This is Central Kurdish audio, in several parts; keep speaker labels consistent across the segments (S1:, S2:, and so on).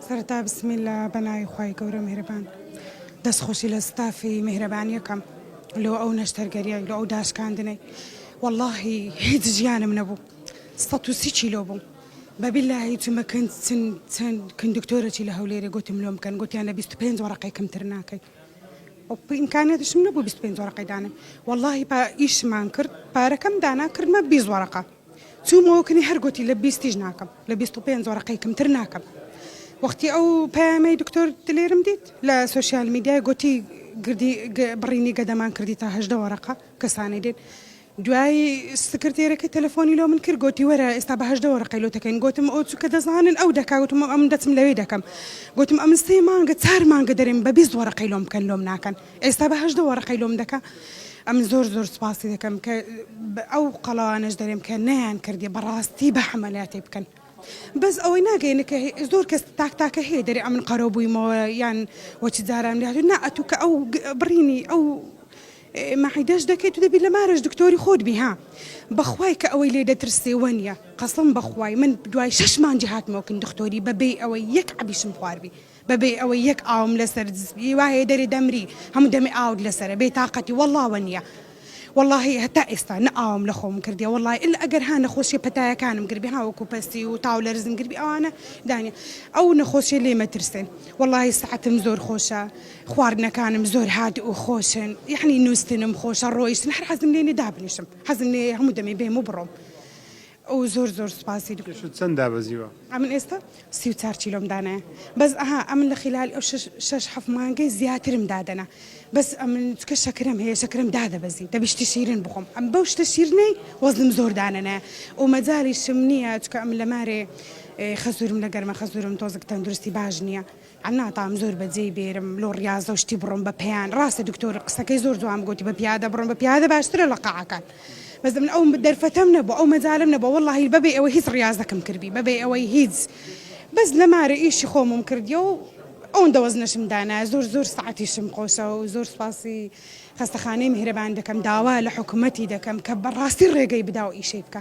S1: سەرەتا بسم اللە بەناوی خوای گەورە میهرەبان دەست خۆشی لە ستافی میهرەبانی ئەکەم لۆ ئەو نەشتەرگەریەی لۆ ئەو داشکاندنەی وەڵاهی هیچ ژیانم نەبوو سەد و سی کیلۆ بووم بە بیلاهی چومە کن چن چن کن دکتۆرەی لە هەولێرێ گوتم لۆم کەن گوتیان لە بیست و پێنج وەڕەقەی کەمتر ناکەی ئیمکانیاتشم نەبوو بیست و پێنج وەڕەقەی دانێم وەڵاهی پا ئیشمان کرد پارەکەم دانا کردمە بیست وەڕەقە چومەوە کنی هەر گۆتی لە بیستیش ناکەم لە بیست و پێنج وەرەقەی کەمتر ناکەم وەختی ئەو پەیامەی دکتۆر دلێرم دیت لە سۆشیال میدیای گۆتی گردی بڕینی گەدەمان کردی تا هەژدە وەرەقە کەسانی دێت دوای سکرتێرەکەی تەلەفۆنی لۆ من کرد گۆتی وەرە ئێستا بە هەژدە وەرەقەی لۆ دەکەین گۆتم ئەو چووکە دەزانن ئەو دەکا گۆتم ئەم دەچم لەوێ دەکەم گۆتم ئەمن سێ مانگە چار مانگە دەرێم بە بیست وەرەقەی لۆم بکەن لۆم ناکەن ئێستا بە هەژدە وەڕقەی لۆم دەکا ئەمن زۆر زۆر سپاسی دەکەم کە ئەو قەڵاوانەش دەرێم کە نەیان کردی بەڕاستی بە حەمەلاتی بکەن بەس ئەوەی ناگەینە کە زۆر کەس تاک تاکە هەیە دەرێ ئەمن قەرەو بوویمەوە یان وەچ جاران لێهاتوو نا ئەتوو کە ئەو بڕینی ئەو مەعیدەش دەکەیت و دەبی لە مارەش دکتۆری خۆت بی ها بەخوای کە ئەوەی لێ دەترسێ وە نیە قەسم بەخوای من دوای شەش مانجی هاتمەوە کن دکتۆری بەبێ ئەوەی یەک عەبیشم خواربی بە بێ ئەوەی یەک ئاوم لە سەر دز بی وا هەیە دەرێ دەمری هەموو دەمێ ئاوت لە سەرە بێ تاقەتی وەڵڵا وە نیە وەڵڵاهی هەتا ئێستا نە ئاوم لە خۆم کردیە وەڵڵای ئللا ئەگەر ها نەخۆشیە پەتایەکانم گربی ها وەکوو پەستی و تاو لەرزم گربی ئەوانە دانیە ئەو نەخۆشیە لێ مەترسێن وەڵڵاهی سەعەتم زۆر خۆشە خواردنەکانم زۆر هادئ و خۆشن یەحنی نووستنم خۆشە ڕۆیشتن هەر حەزم لێ نیە دابنیشم حەزم لێ یە هەموو دەمێ بێم و بڕۆم ئۆو زۆر زۆر سوپاسی دکتۆر. پێشت چەند دابەزیوە؟
S2: ئەمن ئێستا
S1: سی و چار کیلۆم دانایە بەس ئەها ئەمن لە خیلالی ئەو شەش شەش حەفت مانگەی زیاترم دادەنا بەس ئەمن چکە شەکرەم هەیە شەکرەم دادەبەزی دەبی شتی شیرن بخۆم ئەم بەو شتە شیرنەی وەزنم زۆر دانەنایە و مەجالیشم نییە چکە ئەمن لە مارێ خەزورم لە گەرمە خەزورم تۆزک تەندروستی باش نییە ناتام زۆر بە جێی بێرم لۆ ڕیازەو شتی بڕۆم بە پێیان ڕاستە دکتۆر قسەکەی زۆر جوان گۆتی بە پیادە بڕۆم بە پیادە باشترە لە قاعەکان بەس من ئەو دەرفەتەم نەبوو ئەو مەجالم نەبوو وەڵاهی بەبێ ئەوەی هیچ ڕیازەکەم کردبی بەبێ ئەوەی هیچ بەس لەمارە ئیشی خۆمم کردیە و ئەوەندە وەزنەشم دانایە زۆر زۆر سەعاتیشم خۆشە و زۆر سوپاسی خەستەخانەی میهرەبان دەکەم داوا لە حکومەتی دەکەم کە بەڕاستی ڕێگەی بدا و ئیشەی بکا.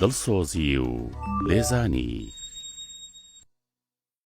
S3: دڵسۆزی و لێزانی.